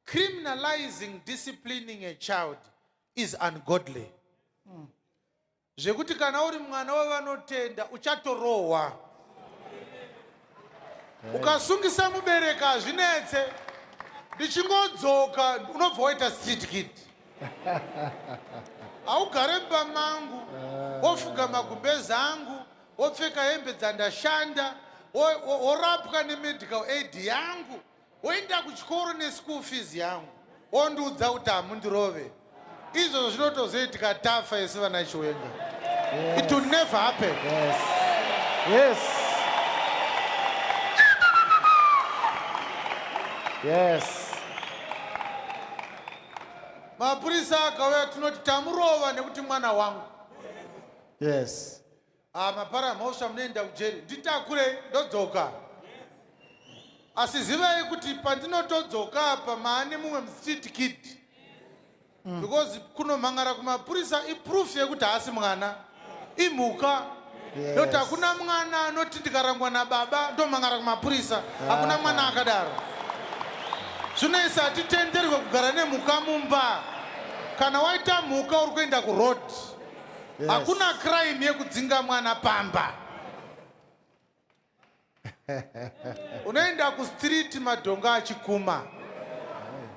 Criminalizing disciplining a child is ungodly. Mm. Zvekuti kana uri mwana wevanotenda uchatorohwa. Hey. Ukasungisa mubereka hazvinetse. Ndichingodzoka unobva waita street kid. Haugare mba mangu, eh. wofuga magumbezi angu, wopfeka hembe dzandashanda, worapwa nemedical aid yangu. Woenda kuchikoro neschool fees yangu ondiudza kuti hamundirove izvozvo zvinotozoitika tafa isi vana chiwenga yes. it will never happen yes. Yes. Yes. mapurisa akauya tinoti tamurova nekuti mwana wangu yes Ah, mapara mhosva munoenda kujeri nditakure ndodzoka asi zivai kuti pandinotodzoka apa maane mumwe mstreet kid mm. because kunomhangara kumapurisa iproof yekuti haasi mwana imhuka yes. not hakuna mwana anoti ndikarangwa nababa ndomhangara kumapurisa ah. hakuna mwana akadaro zvinoisa hatitenderwe kugara nemhuka mumba kana waita mhuka uri kuenda kuroad hakuna yes. crime yekudzinga mwana pamba unoenda kustreet madhongo achikuma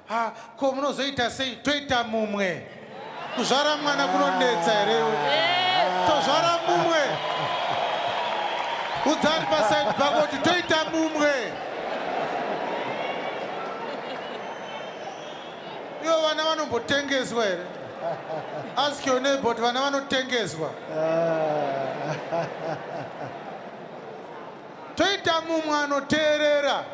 ha ko munozoita sei toita mumwe kuzvara mwana kunonetsa here tozvara mumwe udzari pasaidi pako kuti toita mumwe Ivo vana vanombotengeswa here? Ask your neighbor kuti vana vanotengeswa. Toita mumwe anoteerera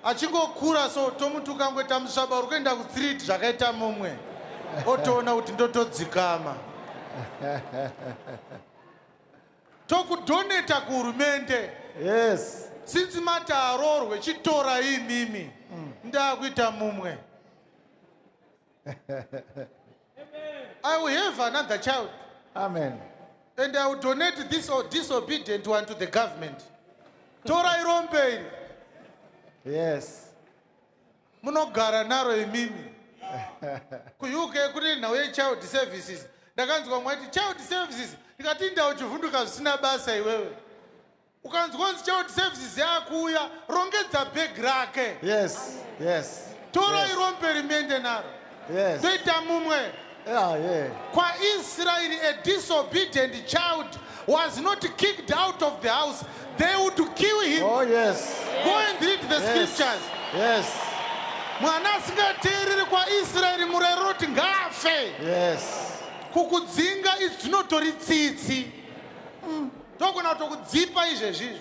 achingokura so tomutuka ngo tamusvaba uri kuenda kustreet zvakaita mumwe otoona kuti ndotodzikama tokudoneta kuhurumende yes since mati aroorwe chitorai imimi mm. ndakuita mumwe i will have another child amen and i will donate this or disobedient one to the government torai rombe iri yes munogara naro imimi kuuk kune nhau yechild services ndakanzwa mwaiti child services ndikati inda uchivhunduka zvisina basa iwewe ukanzwa nzi child services yakuuya rongedza bhegi rake yes yes torai yes. rombe rimende naro Yes. Toita mumwe. Yeah, yeah. Kwa Israel a disobedient child was not kicked out of the house. They would kill him. Oh yes. Go and read the yes. scriptures. Yes. Mwana asingateereri kwa Israel murero roti ngaafe. Yes. Kukudzinga izvinotori tsitsi. Mm. Togona kutokudzipa izvezvi izvi.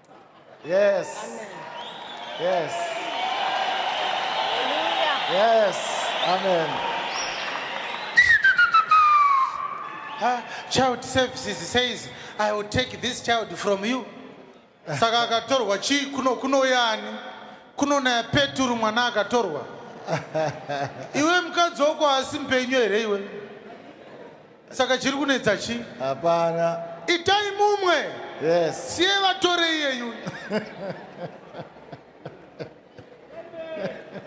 Yes. Amen. Yes. Hallelujah. Yes. Amen. Ha, child services says I will take this child from you. Saka akatorwa chii kuno kunouya ani? Kunonaya Peturu mwana akatorwa. Iwe mukadzi wako asi mpenyu here iwe? Saka chiri kunetsa chi? Hapana. Itai mumwe. Yes. Siye vatore iyeyu.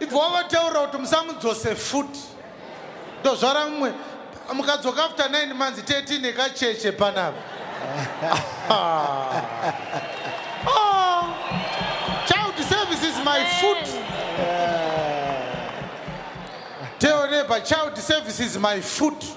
Ibva wavataura kuti musamudzose futi. Ndozvara mumwe. Mukadzoka after 9 months teti nekacheche panapa. oh. Child service is my foot. Teone pa child service is my foot.